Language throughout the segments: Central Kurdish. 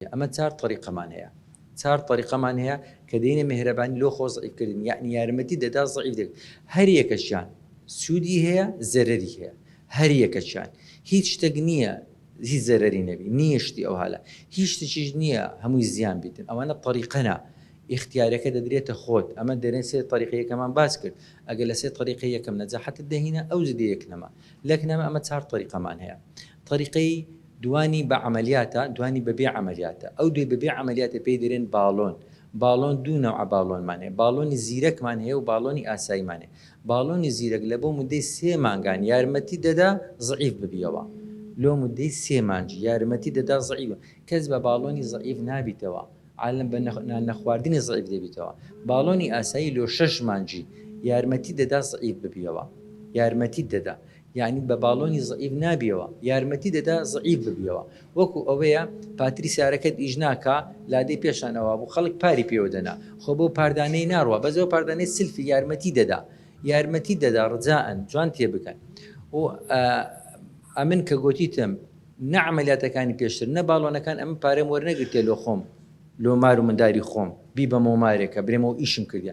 ئەمە چار تەریقەمان هەیە چار تەریقەمان هەیە کە دەینە مێهرەبانی لۆ خۆ زەعیف کردن یەعنی یارمەتی دەدا زەعیف دەک هەر یەکەکیان سوودی هەیە زەرەری هەیە هەر یەکەکیان هیچ شتەک نییە هیچ زەرەری نەبی نییە شتی ئەوهالە هیچ شتیش نییە هەمووی زیان بیتن ئەوانە تەریقەنە ئیختیارەکە دەدرێتە خۆت ئەمە دەرێن سێ تەریقە یەکەمان باس کرد ئەگەر لە سێ تەریقەی یەکەم نەجاحەتت دەهینە ئەوج دێ یەک نەما لەک نەما ئەمە چار تەریقەمان هەیە تەریقەی دوانی بە عەمەلیاتە، دوانی بە بێ عەمەلیاتە. ئەو دوای بە بێ عەمەلیاتە پێی دەرێن باڵۆن. باڵۆن دوو نەوعە باڵۆنمان هەیە، باڵۆنی زیرەکمان هەیە و باڵۆنی ئاساییمان هەیە. باڵۆنی زیرەک لە بۆ مودەی سێ مانگان یارمەتیت دەدا زەعیف ببیەوە. لۆ مودەی سێ مانج یارمەتیت دەدا زەعیف ببیەوە. کەس بە باڵۆنی زەعیف نابیتەوە. عالم بە نان نەخواردنی زەعیف دەبیتەوە. باڵۆنی ئاسایی لۆ شەش مانجی یارمەتیت دەدا زەعیف ببیەوە. یارمەتیت دەدا. یانی بە باڵۆنی زەعیف نابیەوە یارمەتی دەدا زەعیف ببیەوە وەکو ئەوەیە پاتریسیارەکەت ئیش ناکا لادێی پێشان ئەوابوو خەڵک پاری پێوە دەنا خۆ بەو پاردانەی ناڕوا بەس ئەو پاردانەی سلفی یارمەتی دەدا یارمەتی دەدا ڕجائەن جوان تێبگەن و ئەمن کە گۆتیتم نە عملیاتەکانی پێشتر نە باڵۆنەکان ئەمن پارەم وەرنەگرتێ لۆ خۆم لۆ مار و منداری خۆم بیبەمەوە مارێکە برێمەوە ئیشم کردە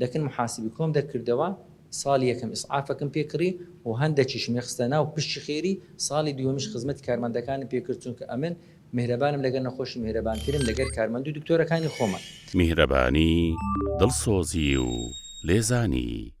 لەکن محاسبی کۆم دەکردەوە سالی یەکەم ئیسعافەکم پێ کڕی و هەندەکیشم یەخستە ناو پشتی خێری سالی دووەمیش خزمەتی کارمەندەکانم پێ کرد چونکە ئەمن میهرەبانم لەگەر نەخۆشی میهرەبانترم لەگەر کارمەندو دکتۆرەکانی خۆمان. میهرەبانی، دڵسۆزی و لێزانی.